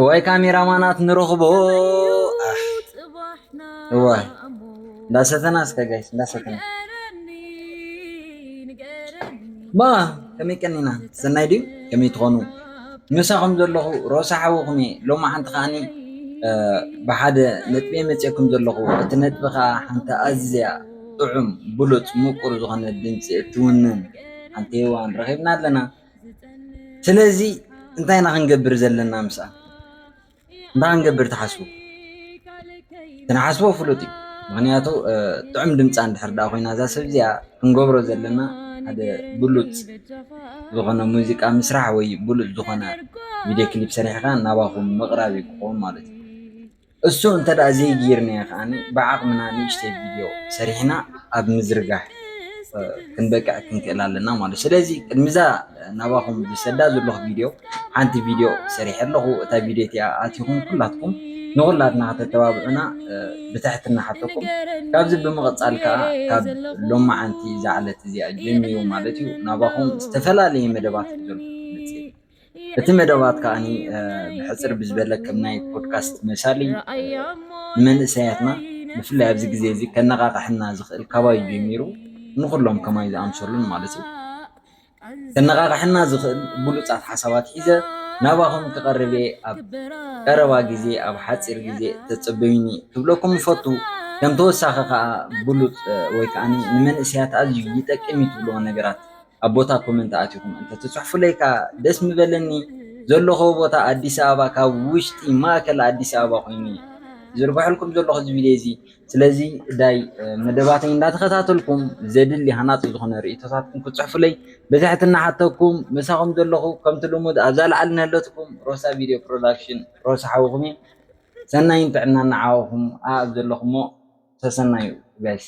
ወይ ካሜራ ማናት ንረኽቦ እዋ እንዳሰተና እስከ ጋይስ እንዳሰተና ማ ከመይ ቀኒና ሰናይ ድዩ ከመይ ትኾኑ ምሳኹም ዘለኹ ሮሳ ሓውኹም እየ ሎሚ ሓንቲ ከዓኒ ብሓደ ነጥቢ መፅኩም ዘለኹ እቲ ነጥቢ ከዓ ሓንቲ ኣዝያ ጥዑም ብሉፅ ምቁር ዝኾነ ድምፂ እትውንን ሓንቲ ሄዋን ረኺብና ኣለና ስለዚ እንታይ ኢና ክንገብር ዘለና ምስኣ እንታይ ክንገብር ትሓስቡ ክንሓስቦ ፍሉጥ እዩ ምክንያቱ ጥዑም ድምፃ እንድሕር ዳ ኮይና እዛ ሰብ እዚኣ ክንገብሮ ዘለና ሓደ ብሉፅ ዝኾነ ሙዚቃ ምስራሕ ወይ ብሉፅ ዝኾነ ቪድዮ ክሊፕ ሰሪሕኻ ናባኹም ምቕራብ እዩ ክኸውን ማለት እዩ። እሱ እንተ ዘይገይርናዮ ከኣ ብዓቕምና ንእሽተይ ቪድዮ ሰሪሕና ኣብ ምዝርጋሕ ክንበቅዕ ክንክእል ኣለና ማለት ስለዚ ቅድሚዛ ናባኹም ዝሰዳ ዘለኹ ቪድዮ ሓንቲ ቪድዮ ሰሪሐ ኣለኹ እታ ቪድዮ እቲኣ ኣቲኹም ኩላትኩም ንኹላትና ከተተባብዑና ብትሕትና ሓተኩም ካብዚ ብምቕፃል ከዓ ካብ ሎማዓንቲ ዝዓለት እዚኣ ጀሚሩ ማለት እዩ ናባኹም ዝተፈላለየ መደባት ዘልኩም እቲ መደባት ከኣ ብሕጽር ብዝበለ ከም ናይ ፖድካስት መሳሊ ንመንእሰያትና ብፍላይ ኣብዚ ግዜ እዚ ከነቓቕሐና ዝኽእል ካባይ እዩ ጀሚሩ ንኹሎም ከማይ ዝኣምሰሉን ማለት እዩ ከነቓቕሐና ዝኽእል ብሉጻት ሓሳባት ሒዘ ናባኹም ክቐርብ እየ ኣብ ቀረባ ግዜ ኣብ ሓጺር ግዜ ተጸበዩኒ ክብለኩም እፈቱ ከም ተወሳኺ ከኣ ብሉጽ ወይ ከኣ ንመንእሰያት ኣዝዩ ይጠቅም እዩ ትብልዎ ነገራት ኣብ ቦታ ኮመንት ኣቲኹም እንተትፅሑፉለይ ከዓ ደስ ምበለኒ። ዘለኹዎ ቦታ ኣዲስ ኣበባ ካብ ውሽጢ ማእከል ኣዲስ ኣበባ ኮይኑ እየ ዝዝርግሐልኩም ዘለኹ እዚ ቪድዮ እዚ። ስለዚ ዳይ መደባተይ እንዳተኸታተልኩም ዘድሊ ሃናፂ ዝኾነ ርእቶታትኩም ክትፅሑፉለይ ብትሕትና ሓተኩም። ምሳኹም ዘለኹ ከምቲ ልሙድ ኣብዛ ላዕሊ ንህለትኩም ሮሳ ቪድዮ ፕሮዳክሽን ሮሳ ሓውኹም እየ። ሰናይን ጥዕናን ንዓኹም ኣብ ዘለኹሞ ሰሰናዩ ጋይስ።